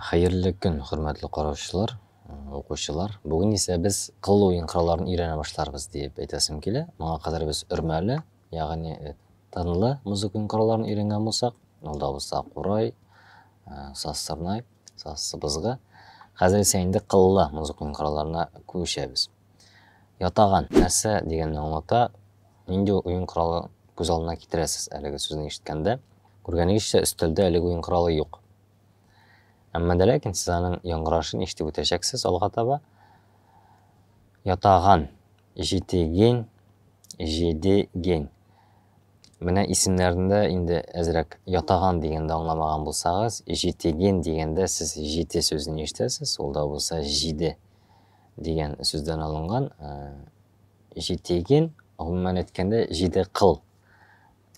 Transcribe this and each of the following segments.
Хәерле көн, хөрмәтле караучылар, укучылар. Бүген исә без кыл уен коралларын өйрәнә башларбыз диеп әйтәсем килә. Моңа кадәр без өрмәле, ягъни тынлы музыка уен коралларын өйрәнгән булсак, ул да булса курай, саз сырнай, саз сыбызгы. Хәзер исә инде кыллы музыка уен коралларына күчәбез. Ятаган, нәрсә дигәнне аңлата, нинди уен коралы күз алдына китерәсез әлеге сүзне ишеткәндә? Күргәнегезчә, өстәлдә әлеге уен коралы юк. Әмма дә ләкин сез аның яңгырашын ишетеп үтәчәксез алга таба. Ятаган, җитеген, җидеген. Менә исемнәрендә инде әзрәк ятаган дигәндә аңламаган булсагыз, җитеген дигәндә сез җите сүзен ишетәсез, ул да булса җиде. дигән сүздән алынган. Җитеген, гомумән әйткәндә, җиде кыл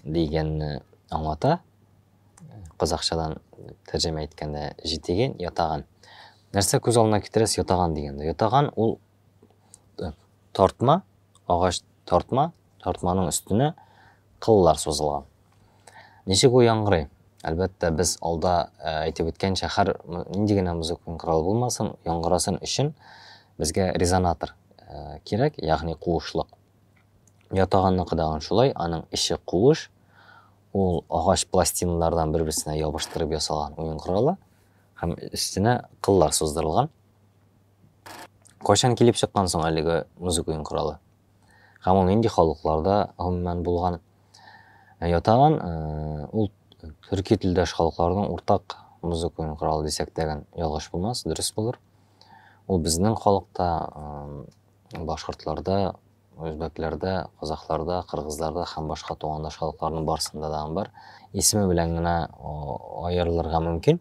дигәнне аңлата. Казахчадан тәрҗемә иткәндә җитеген, ятаган. Нәрсә күз алдына китерәс ятаган дигәндә? Ятаган ул э, тартма, агач тартма, тартманың өстенә кыллар сузылган. Ничек ул яңгырый? Әлбәттә, без алда әйтеп үткәнчә, һәр нинди генә музыкаль корал булмасын, яңгырасын өчен безгә резонатор кирәк, ягъни куышлык. Ятаганныкы дагын шулай, аның эче куыш, ул агач пластиналардан бер-берсенә ябыштырып ясалган уен коралы һәм өстенә кыллар суздырылган. Кайчан килеп чыккан соң әлеге музык уен коралы? Һәм ул нинди халыкларда гомумән булган? ятаган. Ул төрки телдәш халыкларның уртак музыка уен коралы дисәк тәген ялгыш булмас, дөрес булыр. Ул безнең халыкта, башкортларда, үзбәкләрдә, казахларда, кыргызларда һәм башка тугандаш халыкларның барсында да бар. Исеме белән генә аерылырга мөмкин.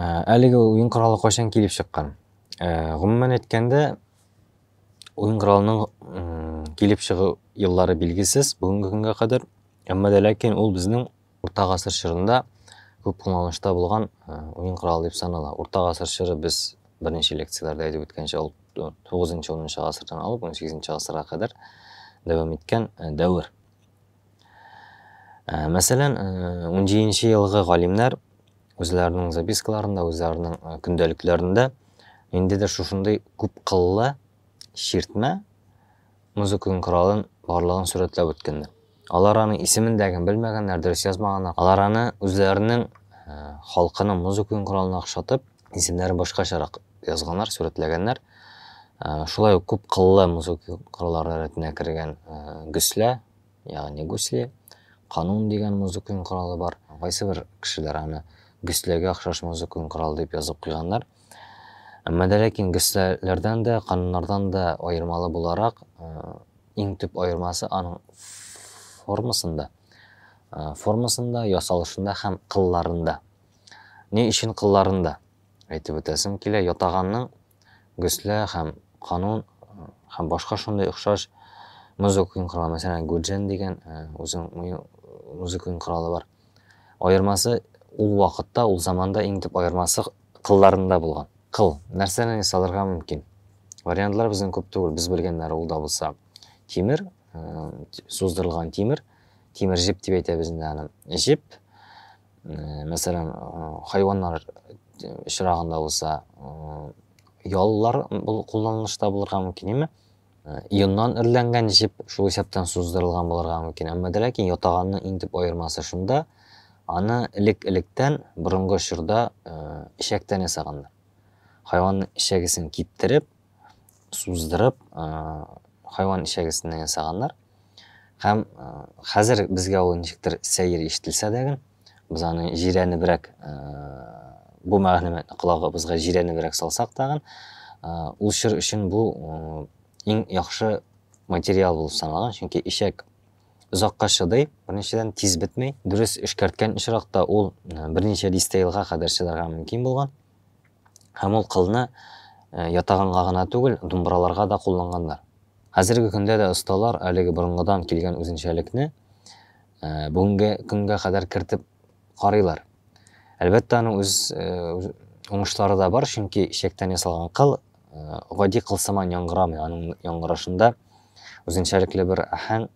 Ә, әлеге уен коралы кайчан килеп чыккан? Ә, гомумән әйткәндә, уен коралының килеп чыгу еллары билгесез бүгенге көнгә кадәр, әмма дә ләкин ул безнең Урта гасыр чорында күп кулланышта булган э, уен коралы дип санала. Урта гасыр чоры без беренче лекцияләрдә әйтеп үткәнчә ул 9-10 гасырдан алып 18 гасырга кадәр дәвам иткән э, дәвер. Э, мәсәлән, 17 елгы галимнәр үзләренең запискаларында, үзләренең көндәлекләрендә ниндидер шушындый күп кыллы чиртмә, музыканың коралын барлыгын сурәтләп үткәннәр. Алар аның исемен дә гән белмәгәннәр, дөрес язмаганнар. Алар аны үзләренең э, халкының музыканың коралына охшатып, исемнәрен башкачарак язганнар, сурәтләгәннәр. Э, шулай ук күп кыллы музыка кораллары рәтенә кергән э, гөслә, ягъни гусли, канун дигән музыка коралы бар. Кайсы бер кешеләр аны гөсләгә охшаш музыка коралы дип язып куйганнар. Әмма дә ләкин гесләләрдән дә, кануннардан да аермалы буларак, иң төп аермасы аның формасында, формасында, ясалышында һәм кылларында. Ни өчен кылларында? Әйтеп үтәсем килә, ятаганның гөслә һәм канун һәм башка шундый охшаш музыка уен коралы, мәсәлән, гуджен дигән үзенең музыка уен коралы бар. Аермасы ул вакытта, ул заманда иң төп аермасы кылларында булган. Кыл, нәрсәннән ясалырга мөмкин? Вариантлар безнең күп түгел, без белгәннәре ул да булса тимер, суздырылган тимер, тимер җеп дип әйтәбез инде аны. Җеп, мәсәлән, хайваннар очрагында булса, яллар кулланылышта булырга мөмкин, әмма Э, ионнан эрләнгән җеп шул исәптән суздырылган булырга мөмкин әмма дә ләкин ятаганның иң төп аермасы шунда аны элек электән борынгы чорда э, эчәктән ясаганнар хайванның эчәгесен киптереп суздырып э, хайван эчәгесеннән ясаганнар һәм хәзер безгә ул ничектер сәер ишетелсә дә генә без аны җирәнебрәк бу мәгълүматны колагыбызга җирәнебрәк салсак тагын ул чор өчен бу иң яхшы материал булып саналган чөнки ишәк озакка чыдый беренчедән тиз бетмей дөрес эшкәрткән очракта ул берничә дистә елга кадәр чыдарга мөмкин булган һәм ул кылны ятаганга гына түгел думбраларга да кулланганнар хәзерге көндә дә осталар әлеге борынгыдан килгән үзенчәлекне бүгенге көнгә кадәр кертеп карыйлар. Әлбәттә, аның үз уңышлары да бар, чөнки чәктән ясалган кыл гади кыл сыман яңгырамый, аның яңгырашында үзенчәлекле бер ахәң,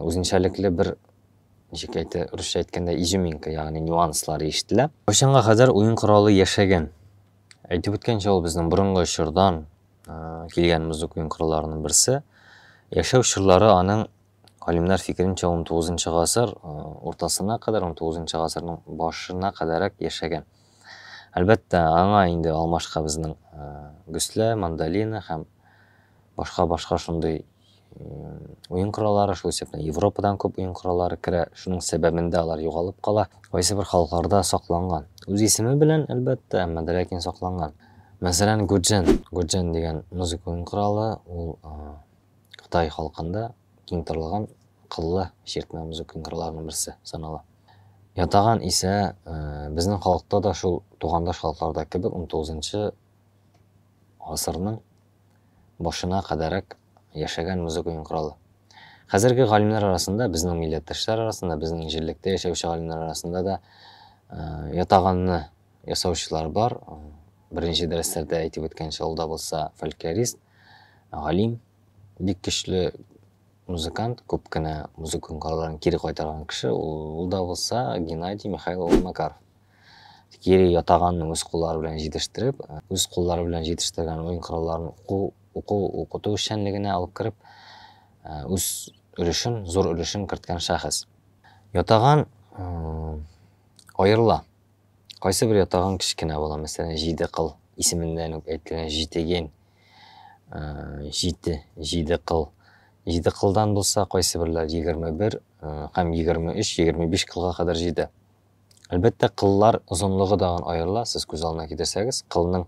үзенчәлекле бер ничек әйтә, русча әйткәндә изюминка, ягъни нюанслар ишетелә. Кайчанга кадәр уен коралы яшәгән? Әйтеп үткәнчә, ул безнең борынгы чордан килгән музык уен коралларының берсе. Яшәү чорлары аның Галимнәр фикеренчә, 19 гасыр э, уртасына кадәр, 19 гасырның башына кадәрәк яшәгән. Әлбәттә, аңа инде алмашка безнең э, гөслә, мандолина һәм башка-башка шундый уен кораллары, шул исәптән Европадан күп уен кораллары керә. Шуның сәбәбендә алар югалып кала. Кайсы бер халыкларда сакланган. Үз исеме белән, әлбәттә, әмма дә ләкин сакланган. Мәсәлән, гуджен. Гуджен дигән музыка уен коралы, ул Кытай халкында киң таралган кыллы чиртмә музыка кыңгырларының берсе санала. Ятаган исә безнең халыкта да шул тугандаш халыкларда кебек 19-нчы гасырның башына кадәрәк яшәгән музыка кыңгыралы. Хәзерге галимнәр арасында, безнең милләттәшләр арасында, безнең җирлектә яшәүче галимнәр арасында да ятаганны ясаучылар бар. Беренче дәресләрдә әйтеп үткәнчә, ул да булса фольклорист. галим, бик көчле музыкант, күп кенә музыка куңгарларын кире кайтарган кеше, ул да булса Геннадий Михаил улы Макаров. Кире ятаганны үз куллары белән җитештереп, үз куллары белән җитештергән уен коралларын уку, уку, укыту эшчәнлегенә алып кереп, э, үз өлешен, зур өлешен керткән шәхес. Ятаган э, аерыла. Кайсы бер ятагың кечкенә була, мәсәлән, җиде кыл исеменнән үк әйтелгән җитеген, җите, җиде кыл. Җиде кылдан булса, кайсы берләр егерме бер һәм егерме өч, егерме биш кылга кадәр җитә. Әлбәттә, кыллар озынлыгы да аерыла, сез күз алдына китерсәгез, кылның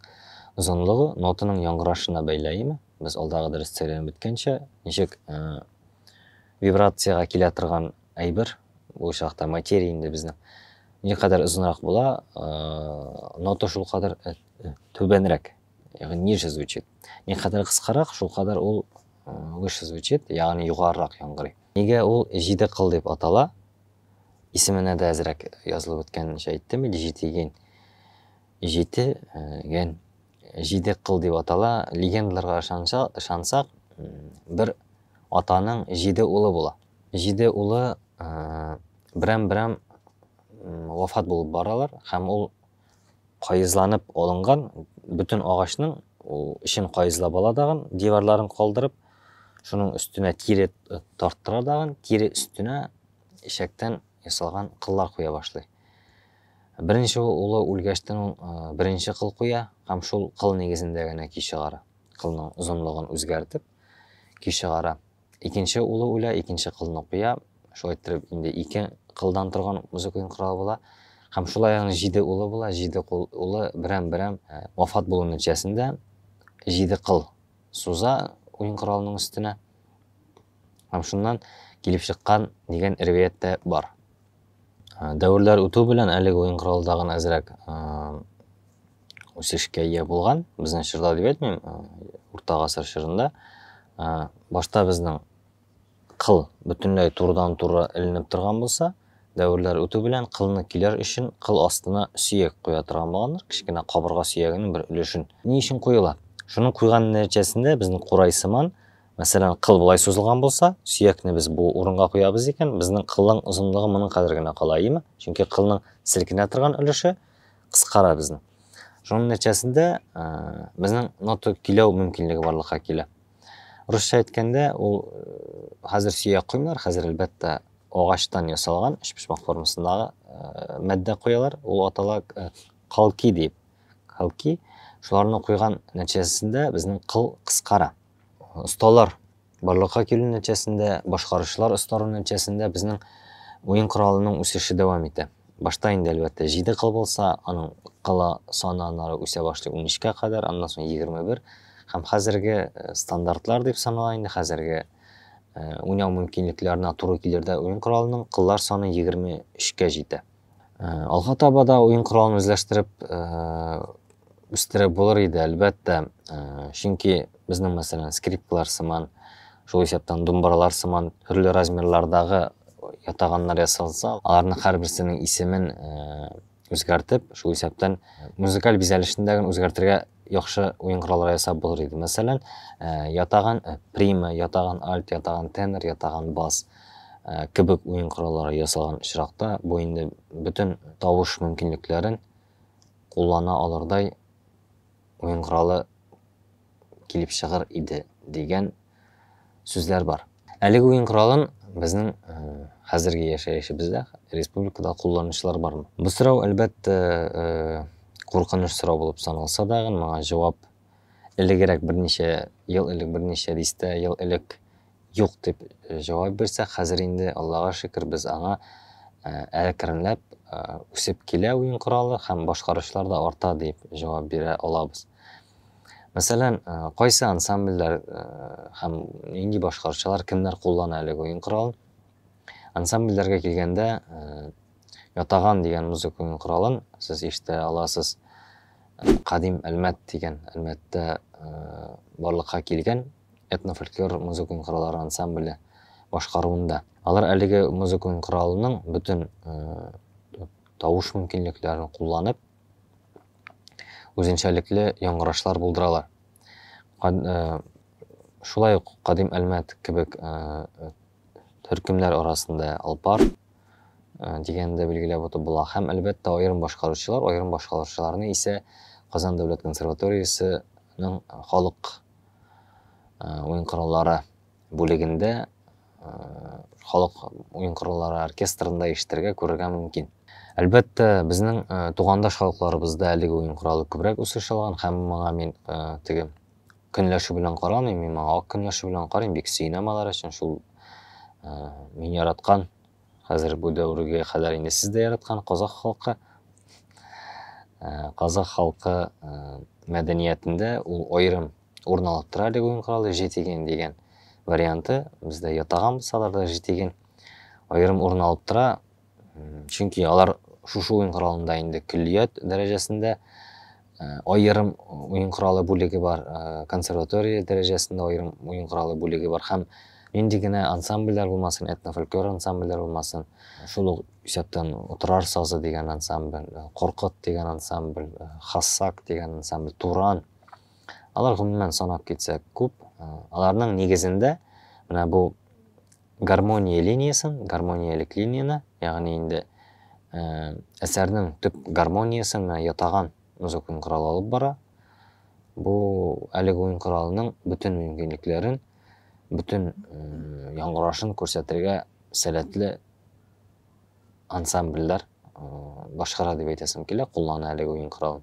озынлыгы нотаның яңгырашына бәйле, әйеме? Без алдагы дәрестә өйрәнеп беткәнчә, ничек вибрациягә килә торган әйбер, бу очракта материя инде безнең. Никадәр озынрак була, нота шул кадәр түбәнрәк, ягъни ниже звучит. Никадәр кыскарак, шул кадәр ул выше звучит, ягъни югарырак яңгырый. Нигә ул җиде кыл дип атала? Исеменә дә әзрәк язылып үткәнчә әйттем иде җитеген. Җитеген җиде кыл дип атала. Легендаларга ышансак, бер Атаның җиде улы була. Җиде улы берәм-берәм вафат булып баралар һәм ул каезланып алынган бөтен агачның эчен каезлап ала дагын, диварларын калдырып, шуның өстенә тире тарттыра дагын, тире өстенә ишәктән ясалган кыллар куя башлый. Беренче улы үлгәчтен ул беренче кыл куя һәм шул кыл нигезендә генә ки чыгара. Кылның озынлыгын үзгәртеп, Ки чыгара. Икенче улы үлә, икенче кызны куя. Шулай иттереп инде ике кылдан торган музыка уен коралы була. Һәм шулай аның җиде улы була, җиде кул улы берәм-берәм э, вафат булу нәтиҗәсендә җиде кыл суза уен коралының өстенә. Һәм шуннан килеп чыккан дигән риваять тә бар. Ә, Дәверләр үтү белән әлеге уен коралы тагын әзрәк ә, үсешкә ия булган. Безнең чорда дип әйтмим, ә, урта гасыр чорында. Ә, Башта безнең кыл бөтенләй турыдан-туры эленеп торган булса, дәверләр үтү белән кылны килер өчен кыл астына сөяк куя торган булганнар, кечкенә кабырга сөягенең бер өлешен. Ни өчен куела? Шуның куйган нәтиҗәсендә безнең курай сыман Мәсәлән, кыл болай сузылган булса, сөякне без бу урынга куябыз икән, безнең кылның озынлыгы моның кадәр генә кала, әйеме? Чөнки кылның селкенә торган өлеше кыскара безнең. Шуның нәтиҗәсендә э, безнең нота көйләү мөмкинлеге барлыкка килә. Русча әйткәндә, ул э, хәзер сөяк куймыйлар, хәзер әлбәттә агачтан ясалган өчпочмак формасындагы э, матдә куялар. Ул атала калки дип. Калки шуларны куйган нәтиҗәсендә безнең кыл кыскара. осталар барлыкка килү нәтиҗәсендә, башкаручылар остару нәтиҗәсендә безнең уен коралының үсеше дәвам итә. Башта инде, әлбәттә, 7 кыл булса, аның кыла саны аннары үсә башлый 13 кә кадәр, аннан соң 21. Һәм хәзерге э, стандартлар дип санала инде, хәзерге э, уйнау мөмкинлекләренә туры килердә уен коралының кыллар саны 23 кә җитә. Алга таба да уен коралын үзләштереп үстереп булыр иде, әлбәттә. Чөнки безнең, мәсәлән, скрипкалар сыман, шул исәптән думбаралар сыман төрле размерлардагы ятаганнар ясалса, аларның һәрберсенең исемен үзгәртеп, шул исәптән музыкаль бизәлешендә генә үзгәртергә яхшы уен кораллары ясап булыр иде. Мәсәлән, э, ятаган э, прима, ятаган альт, ятаган тенор, ятаган бас э, кебек уен кораллары ясалган очракта бу инде бөтен тавыш мөмкинлекләрен куллана алырдай уен коралы килеп чыгыр иде дигән сүзләр бар. Әлеге уен коралын безнең хәзерге яшәешебездә республикада кулланучылар бармы? Бу сорау, әлбәттә, куркыныч сорау булып саналса да, моңа җавап элегрәк берничә ел элек, берничә дистә ел элек юк дип җавап бирсәк, хәзер инде, Аллага шөкер, без аңа әкренләп үсеп килә уен коралы һәм башкаручылар да арта дип җавап бирә алабыз. Мәсәлән, э, кайсы ансамбльләр э, һәм нинди башкаручылар кемнәр куллана әле уен коралын? Ансамбльләргә килгәндә, э, ятаган дигән музыка уен коралын сез ишетә аласыз. Кадим Әлмәт дигән Әлмәттә барлыкка килгән этнофольклор музыка уен кораллары ансамбле башкаруында. Алар әлеге музыка уен коралының бөтен тавыш мөмкинлекләрен кулланып, үзенчәлекле яңгырашлар булдыралар. Шулай ук кадим Әлмәт кебек төркемнәр арасында Алпар дигәнне дә билгеләп үтеп була. Һәм, әлбәттә, аерым башкаручылар, аерым башкаручыларны исә Казан дәүләт консерваториясенең халык уен кораллары бүлегендә халык уен кораллары оркестрында ишетергә, күрергә мөмкин. Әлбәттә, безнең тугандаш халыкларыбызда әлеге уен коралы күбрәк үсеш алган һәм моңа мин теге көнләшү белән карамыйм, мин моңа ак көнләшү белән карыйм, бик сөенәм алар өчен шул мин яраткан хәзер бу дәвергә кадәр инде сез дә яраткан казах халкы казах халкы мәдәниятендә ул аерым урын алып тора әлеге уен коралы жетиген дигән варианты бездә ятаган булса аларда жетиген аерым урын алып тора чөнки алар шушы уен коралында инде көллият дәрәҗәсендә аерым уен коралы бүлеге бар консерватория дәрәҗәсендә аерым уен коралы бүлеге бар һәм нинди генә ансамбльләр булмасын этнофольклор ансамбльләр булмасын шул ук исәптән утырар сазы дигән ансамбль коркыт дигән ансамбль хассак дигән ансамбль туран Алар гомумән санап китсәк күп. Э, аларның нигезендә менә бу гармония линиясен, гармониялек линияне, ягъни инде э, әсәрнең төп гармониясен менә ятаган музыкон корал алып бара. Бу әлеге уен коралының бөтен мөмкинлекләрен, бөтен э, яңгырашын күрсәтергә сәләтле ансамбльләр башкара дип әйтәсем килә, куллана әлеге уен коралын.